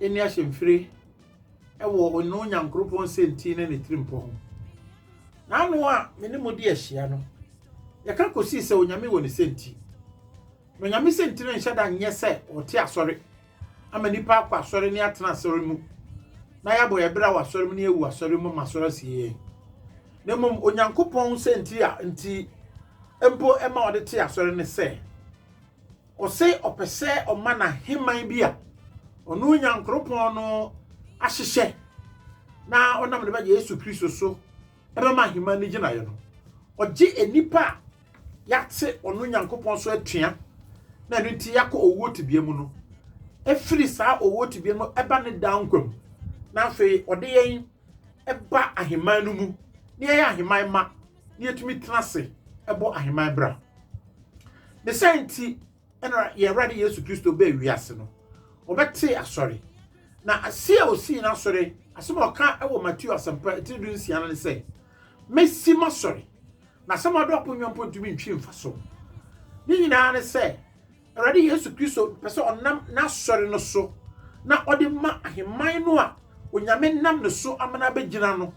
Yenni ahyɛmfiri wɔ ɔno Nyankoropɔn nsɛnti ne ne tirimpɔ ho. N'ano a me ne mo de ahyia no, yɛka kɔsii sɛ Onyame wɔ ne sɛnti. Na Onyame sɛnti no nhyɛ da nyɛ sɛ ɔte asɔre ama nnipa akɔ asɔre ne atena asɔre mu na yɛabɔ yɛn bra wɔ asɔre mu ne yɛawu asɔre mu ma asɔre asie yɛn. Na mmom Onyankopɔn sɛnti a nti mpo ɛma ɔde te asɔre ne sɛ, Ɔse ɔpɛ sɛ ɔma n'aheman bi a ɔno Nyankoropɔn no ahyehyɛ na ɔnam ne ba Yesu Kristo so ɛbɛma aheman no gyinaeɛ no. Ɔgye nnipa a yɛate ɔno Nyankopɔn so atua na ɛno nti yɛakɔ owuo tebea mu no firi saa owuo tebea mu ɛba ne daa nkwa mu na afei ɔde yɛn ba ahemman no mu na yɛyɛ ahemman mma na yɛtumi tena ase bɔ ahemman bra. Ne sɛ nti ɛna yɛn Awurade Yesu Kristo bɛɛ wiase no, ɔbɛte asɔre. Na ase a osii n'asɔre, asɛm a ɔka wɔ Mateo asɛmpa etiri du nsia no ne sɛ, mesi m'asɔre, na asɛm a ɔde ɔpon nyɔnpɔn ntumi ntwi mfa so. Ne nyinaa ne sɛ, Awurade Yesu Kristo pɛ sɛ ɔnam n'Asɔre no so na ɔde ma ahemman no a Onyame nam ne so ama no abɛgyina no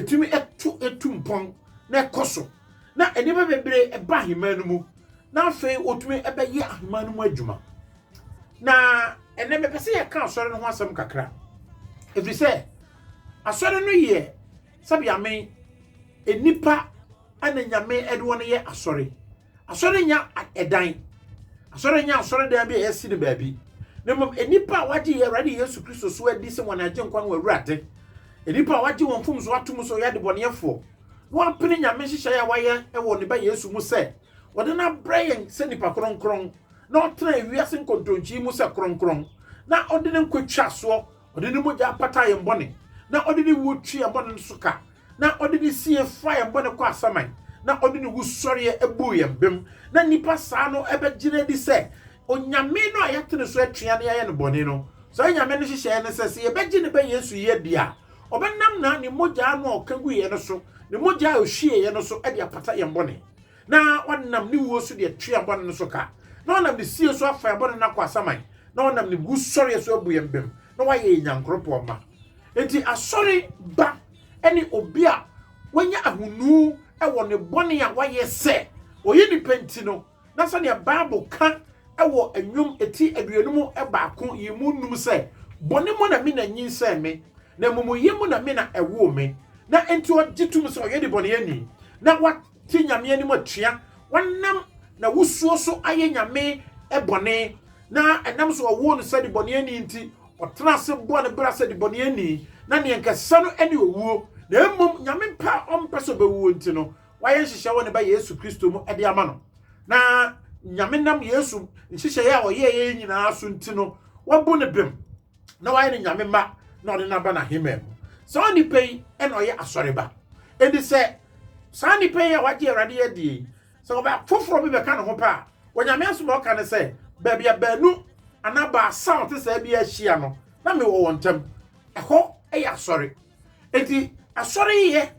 tumi to tu mpɔn na ɛkɔ so, na nneɛma bebree ba ahemman no mu, na afei wɔtumi bɛyɛ ahemman no mu adwuma. Na ɛnɛ mepɛ sɛ yɛka Asɔre no ho asɛm kakra, ɛfiri sɛ Asɔre no yɛ sɛbea me nnipa na Nyame de wɔn yɛ Asɔre. Asɔre nyɛ ɛdan. Asɔre nyɛ asɔredan bi a yɛasi no baabi. Na mmom, nnipa a wɔagye Awurade Yesu Kristo so adi sɛ wɔn Agyenkwa ne wɔn Awurade, nnipa a wɔagye wɔn mfomso atom sɛ wɔyɛ adebɔneyɛfoɔ, na wɔapene Nyame nhyehyɛeɛ a wayɛ wɔ ne Ba Yesu mu sɛ ɔde no abrɛ yɛn sɛ nnipa kronkron, na ɔtena wiase nkontonkyi mu sɛ kronkron, na ɔde ne nkwa twa soɔ Ɔde ne mogya pataa yɛn bɔne, na ɔde ne wuo twee yɛn bɔne no so ka, na ɔde ne sie faa yɛn bɔne kɔɔ asaman, na ɔde ne wusɔreɛ buu yɛn bem, na nnipa saa no bɛgyina adi sɛ Onyame no a yɛate ne so atua na yɛayɛ no bɔne no. Saa Nyame no nhyehyɛeɛ ne sɛ, sɛ yɛbɛgye ne ba Yesu yi adi a, ɔbɛnam na ne mogya no a ɔka guiɛ no so, ne mogya a ɔhwieeɛ no so de apata yɛn bɔne. na ɔnam ne wuo so de atua bɔne no so ka, na ɔnam ne sie so afa yɛn bɔne no akɔ asaman, na ɔnam ne wusɔreɛ so abu yɛn bem, na wayɛ yɛn nyankoropɔn mma. Enti asɔre ba ne obi a wanya ahonu wɔ ne bɔne a wayɛ sɛ ɔyɛ nipa nti no, na sɛdeɛ Bible ka wɔ Nnwom ti aduonum baako yiemu nnum sɛ, Bɔne mu na me na nyinsɛn me, na amumuyɛ mu na me na ɛwoo me, na enti ɔgye tom sɛ ɔyɛ debɔneyɛni, na wa. Te Nyame anim atua wɔnam n'awosuo so ayɛ Nyame bɔne, na ɛnam sɛ wɔwoo no sɛ debɔneyɛni nti, ɔtena ase bɔɔ ne bra sɛ debɔneyɛni, na nea anka ɛsɛ no ne owuo, na mmom Nyame pɛ a ɔmpɛ sɛ ɔbɛwuo nti no, wayɛ nhyehyɛeɛ wɔ ne Ba Yesu Kristo mu de ama no, na Nyame nam Yesu nhyehyɛeɛ a ɔyɛeɛ yi nyinaa so nti no, wabu no bem. na wayɛ no nyame mma na ɔde no aba n'ahemman mu saa onipa yi na ɔyɛ asɔreba enti sɛ saa nipa yi a wagye awurade yɛ die yi sɛ ɔbɛ foforɔ bi bɛka ne ho pɛ a onyame asom a ɔka ne sɛ baabi a baanu anaa baasa a ɔte saa bi ahyia no na mewɔ wɔn ntam ɛhɔ yɛ asɔre Enti asɔreyɛ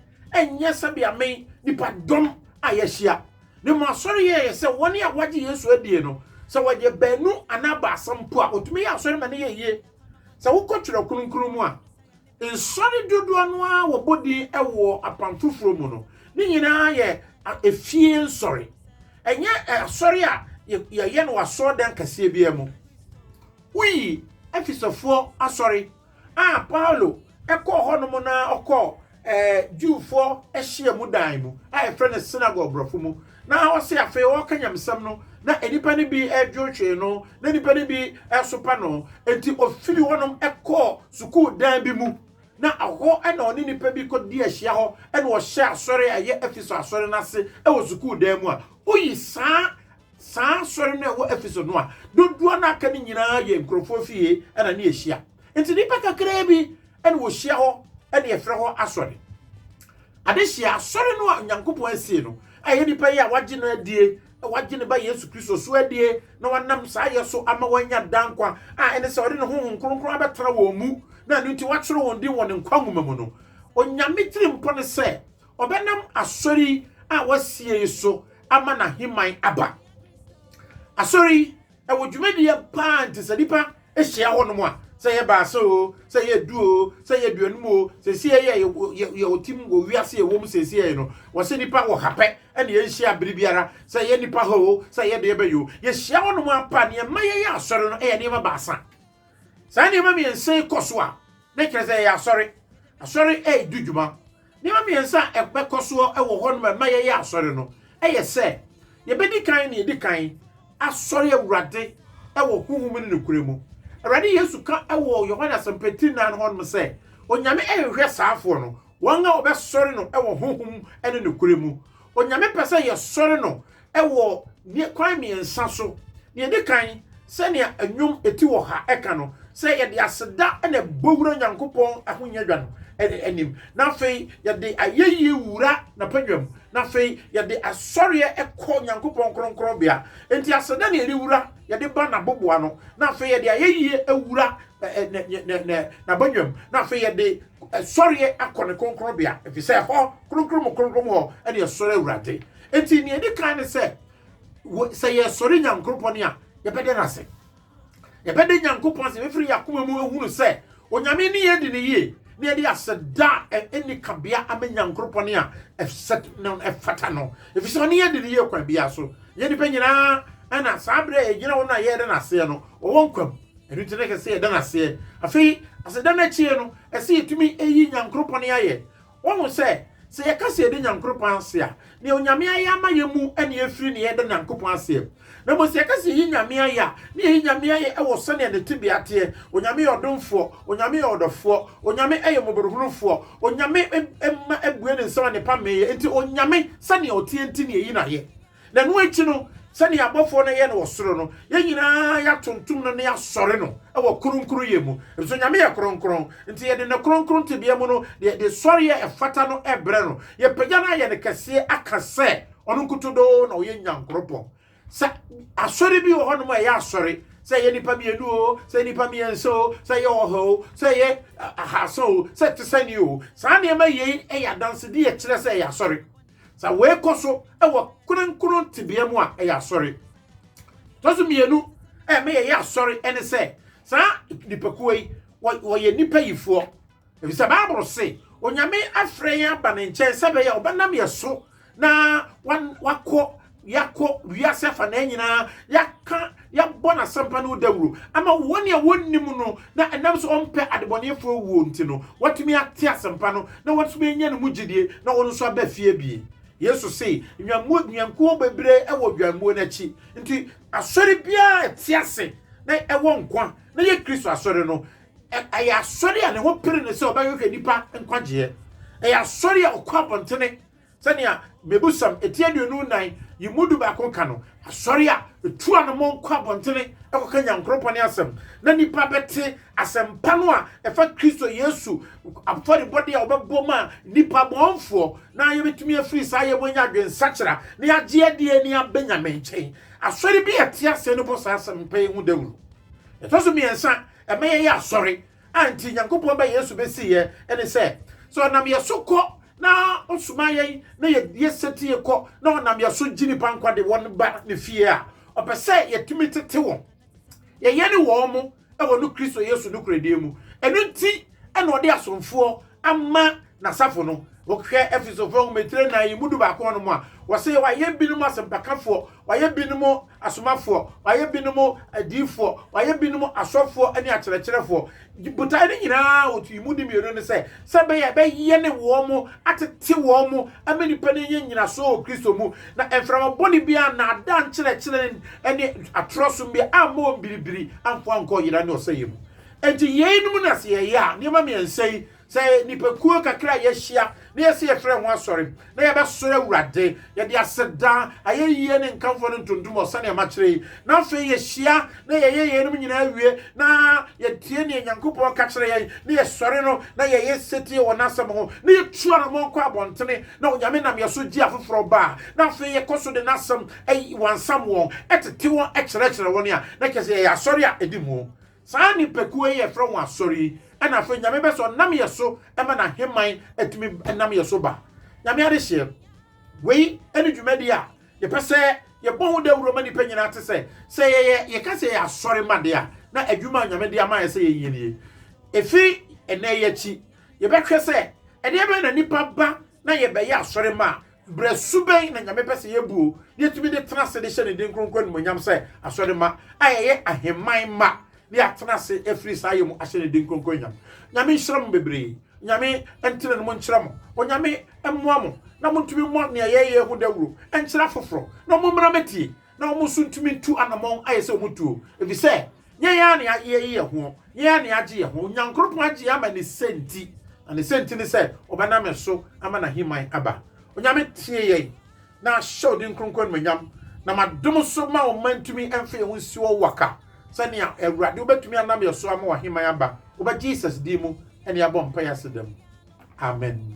nyɛ sɛbea me nipa dɔm a yɛahyia. Ne mu asɔreyɛ yɛ sɛ wɔn a wɔagye Yesu adie no, sɛ wɔyɛ baanu anaa baasa mpo a, wɔtumi yɛ asɔre ma no yɛ yie. Sɛ wokɔ twerɛ kronkron mu a, nsɔre dodoɔ no ara wɔbɔ din wɔ apam foforɔ mu no, ne nyinaa yɛ efie nsɔre. Ɛnyɛ asɔre a yɛyɛ no wɔ asɔɔdan kɛseɛ biara mu. Woyi Efesofoɔ asɔre a Paulo kɔɔ hɔnom no ara ɔkɔɔ Jewfoɔ hyiamu dan mu a yɛfrɛ no synagogue borɔfo mu, na hɔ se afei ɔreka nyamesɛm no, na nnipa no bi dwonhwee no, na nnipa no bi sopa no. Enti ɔfiri hɔnom kɔɔ sukuu dan bi mu, na hɔ na ɔne nnipa bi kɔdii ahyia hɔ na ɔhyɛɛ asɔre a ɛyɛ Efeso asɔre no ase wɔ sukuu dan mu a woyi saa Saa asɔre no a ɛwɔ Efeso no a dodoɔ no a aka no nyinaa yɛ nkurɔfoɔ fie na ne ɛhyia. Enti nnipa kakraa bi na wɔhyia hɔ na yɛfrɛ hɔ asɔre. Adehyeɛ asɔre no a Onyankopɔn asie no a ɛyɛ nipa yi a wagye no adie, wagye ne ba Yesu Kristo so adie na wanam saa yɛ so ama wanya daa nkwa a ɛne sɛ ɔde ne honhom kronkron abɛtena wɔn mu na ɛno nti wakyerɛ wɔn din wɔ ne nkwa nwoma mu no. Onyame tirimpɔ ne sɛ Ɔbɛnam Asɔre yi a wɔasie yi so ama n'ahemman aba. Asɔre yi, ɛwɔ dwumadie paa nti sɛ nipa hyia hɔnom a, sɛ yɛ baasa o, sɛ yɛ du o, sɛ yɛ duanum o, seesie yɛ yɛ otim wɔ wiase yɛ wɔ mu seesie yɛ no, wɔse nipa wɔ ha pɛ ɛne yɛnhyia bere biara, sɛ yɛ nipa ha o, sɛ yɛ deɛ bɛyɛ o, yɛhyia hɔnom apa. Neɛ ɛma yɛyɛ asɔre no yɛ nneɛma baasa. Saa nneɛma mmiɛnsa yi kɔ so a, na kyerɛ sɛ yɛyɛ asɔre. Asɔre ɛɛdi dwuma. Nneɛma mmiɛnsa a ɛbɛkɔ so wɔ hɔnom a ɛma yɛyɛ asɔre no yɛ sɛ, yɛbɛdi kan na yɛadi kan asɔre Awurade wɔ honhom ne nokorɛ mu. Awurade Yesu ka wɔ Yohane Asɛmpa ti nnan hɔnom sɛ, Onyame nhwehwɛ saafoɔ no, wɔn a wɔbɛsɔre no wɔ honhom ne nokorɛ mu. Onyame pɛ sɛ yɛsɔre no wɔ ne kwan mmiɛnsa so. Deɛ ɛdi kan, sɛnea nnwom ɛti wɔ ha ɛka no, sɛ yɛde aseda na ɛbɔ wura Nyankopɔn ahonyadwa no anim, na afei yɛde ayɛyie wura n'apadwa mu, na afei yɛde asɔreɛ kɔ Nyankopɔn kronkronbea. Enti aseda na yɛde wura, yɛde ba n'aboboa no, na afei yɛde ayɛyie awura n'abadwa mu, na afei yɛde sɔreɛ akɔ ne kronkronbea, ɛfiri sɛ hɔ kronkron mu kronkron mu hɔ ɛne ɛsɔre Awurade. Enti nea ɛdi kan ne sɛ, sɛ yɛsɔre Nyankoropɔn a, yɛbɛda no ase. Yɛbɛda Nyankopɔn ase, yɛbɛfiri yɛn akoma mu ahunu sɛ Onyame ne yɛn di no yie, na yɛde aseda a ɛnni kabea ama Nyankoropɔn a ɛfata no, ɛfiri sɛ ɔne yɛn di no yie kwan biara so. Yɛn nnipa nyinaa ɛna saa berɛ a yɛgyina hɔ no a yɛreda no aseɛ no, ɔwɔ nkwa mu. Ɛno nti na ɛsɛ sɛ yɛda no aseɛ. Afei, aseda no akyie no, ɛsɛ yɛtumi yi Nyankoropɔn ayɛ. Woahu sɛ, sɛ yɛka sɛ yɛda Nyankoropɔn ase a, nea Onyame ayɛ ama yɛn mu na yɛfiri ne yɛda Nyankopɔn aseɛ. Na mmom sɛ yɛka sɛ yɛyi Nyame ayɛ a, na yɛyi Nyame ayɛ wɔ sɛdeɛ ne tebea teɛ. Onyame yɛ ɔdomfoɔ. Onyame yɛ ɔdɔfoɔ. Onyame yɛ mmɔborohunufoɔ. Onyame mma bue ne nsam annepa mmee yɛn. Enti Onyame, sɛdeɛ ɔteɛ nti na yɛyi no ayɛ. Na ɛno akyi no, sɛnea abɔfoɔ no yɛ no wɔ soro no, yɛn nyinaa yɛatontom no na yɛasɔre no wɔ kronkronyɛ mu, ɛfiri sɛ Onyame yɛ kronkron, nti yɛde ne kronkron tebea mu no de sɔreɛ a ɛfata no brɛ no, yɛpagya no ayɛ no kɛseɛ aka sɛ ɔno nkutodoo na ɔyɛ Nyankoropɔn. Sɛ asɔre bi wɔ hɔnom a ɛyɛ asɔre, sɛ ɛyɛ nnipa mmienu o, sɛ nnipa mmiɛnsa o, sɛ ɛyɛ ɔha o, sɛ ɛyɛ ahaasa o, sɛ ɛte sɛ ni o, saa nneɛma yei yɛ adansedeɛ kyerɛ sɛ ɛyɛ asɔre. Sɛ wei kɔ so wɔ kronkron tebea mu a, ɛyɛ asɔre. Tɔ so mmienu a ɛma yɛyɛ asɔre ne sɛ saa nipakuo yi wɔyɛ nnipa yifoɔ. Ɛfiri sɛ Bible se Onyame afrɛ yɛn aba ne nkyɛn sɛ bɛyɛ ɔbɛnam yɛ so na wakɔ yɛakɔ wiase afanaa nyinaa, yɛaka, yɛabɔ n'asɛmpa no dawuro, ama wɔn a wɔnnim no na ɛnam sɛ ɔmpɛ adebɔneɛfoɔ wuo nti no, wɔatumi ate asɛmpa no na wɔatumi anya ne mu gyedie na wɔn nso aba fie abien. Yesu se, nnwammuo, nnwankuo bebree wɔ dwammuo no akyi, nti asɔre biara a ɛte ase na ɛwɔ nkwa na ɛyɛ Kristo asɔre no, ɛyɛ asɔre a ne ho pere no sɛ ɔbɛhwehwɛ nnipa nkwagyeɛ. Ɛyɛ asɔre a ɔkɔ abɔntene Sɛnea Mmebusɛm Eti Aduonu Nnan yi mu dubaako ka no, asɔre a etu anammɔn kɔ abɔntene kɔka Nyankoropɔn asɛm na nnipa bɛte asɛmpa no a ɛfa Kristo Yesu afɔrebɔde a ɔbɛbɔ maa nnipa bɔnfoɔ na yɛbɛtumi afiri saa yɛ mu anya adwensakyera na yɛagye adie ne abɛnya me nkyɛn. Asɔre bi a ɛte aseɛ no bɔ saa asɛmpa yi ho dawuro. Ɛtɔ so mmiɛnsa, ɛma yɛyɛ asɔre A enti Nyankopɔn ba Yesu besi yɛ ne sɛ, sɛ ɔnam yɛ so kɔ na ɔsoma yɛn na yɛ yɛ setie kɔ na ɔnam yɛ so gye nipa nkwa de wɔn ba ne fie a, ɔpɛ sɛ yɛtumi tete wɔn, yɛyɛ ne wɔn mo wɔ no Kristo Yesu nokorɛdie mu. Ɛno nti na ɔde asomfoɔ ama n'asafo no. Wohwɛ Efesofo nhomatire nnan yi mu dubaako hɔ no mu a, wɔse wayɛ binom asɛmpakafoɔ, wayɛ binom asomafoɔ, wayɛ binom adiyifoɔ, wayɛ binom asɔfoɔ ne akyerɛkyerɛfoɔ. Botae no nyinaa a wɔtui mu de mmienu ne sɛ, sɛ ɛbɛyɛ ɛbɛyɛne wɔn, atete wɔn, ama nnipa no anya nnyinasoɔ wɔ Kristo mu, na mframa bɔne biara, nnaadaa nkyerɛkyerɛ ne atorɔ som biara amma wɔn biribiri amfa wɔn ankɔ yera ne ɔsɛeɛ mu. Enti yeinom na sɛ yɛyɛ a, nneɛma mmiɛnsa yi, sɛ nnipakuo kakra a yɛahyia na yɛse yɛfrɛ ho asɔre na yɛbɛsɔre Awurade, yɛde aseda, ayɛyie ne nkamfoɔ ne ntontom wɔ sɛdeɛ makyerɛ yi, na afei yɛhyia na yɛyɛ yeinom nyinaa wie na yɛtie deɛ Nyankopɔn ka kyerɛ yɛn na yɛsɔre no na yɛyɛ setie wɔ N'asɛm ho na yɛtu anammɔn kɔ abɔntene na Onyame nam yɛn so gye afoforɔ ba a, na afei yɛkɔ so de N'asɛm wansam wɔn, tete wɔn, kyerɛkyerɛ wɔn a, na kyerɛ sɛ yɛyɛ asɔre a ɛdi mu. Saa nnipakuo yi a yɛfrɛ wɔn asɔre yi na afei Nyame bɛsɔ nam yɛ so ma n'aheman atumi nam yɛ so ba. Nyame adehyeɛ. Wei ne dwumadi a yɛpɛ sɛ yɛbɔ ho dawuro ma nnipa nyinaa te sɛ, sɛ yɛyɛ, yɛka sɛ yɛyɛ asɔre ma deɛ a, na adwuma a Nyame de ama yɛ sɛ yɛnyɛ nie. Ɛfiri ɛnnɛ yi akyi, yɛbɛhwɛ sɛ ɛdeɛbɛn na nnipa ba na yɛbɛyɛ asɔre ma a, Bere su bɛn na Nyame pɛ sɛ yebu o na yɛatumi de tena ase de hyɛ ne din kronkron animuonyam sɛ asɔremma a yɛyɛ ahemman mma de atena ase afiri saa yɛ mu ahyɛ ne din kronkron anyam? Nyame nhyira mo bebree. Nyame ntenenom nkyerɛ mo. Onyame mmoa mo na montumi mmɔ nea yɛyɛ ho dawuro nkyerɛ afoforo na mommra mɛtie na wɔn nso ntumi ntu anamɔn ayɛ sɛ wɔn tuo, efisɛ yɛn ara na yɛayi yɛn ho, yɛn ara na yɛagye yɛn ho, Nyankoropɔn agye yɛn ama ne sɛ nti, na ne sɛ nti ne sɛ ɔbɛnam yɛn so ama n'aheman aba. Onyame tie yɛn, na ahyɛ odin kronkron animuonyam, na ma dom so ma ɔman ntumi mfa yɛn ho nsi wɔ waka, sɛ nea Awurade wobɛtumi anam yɛn so ama w'aheman aba, wobɛ Jesus din mu ne yɛabɔ mpaeɛ aseda mu, amen.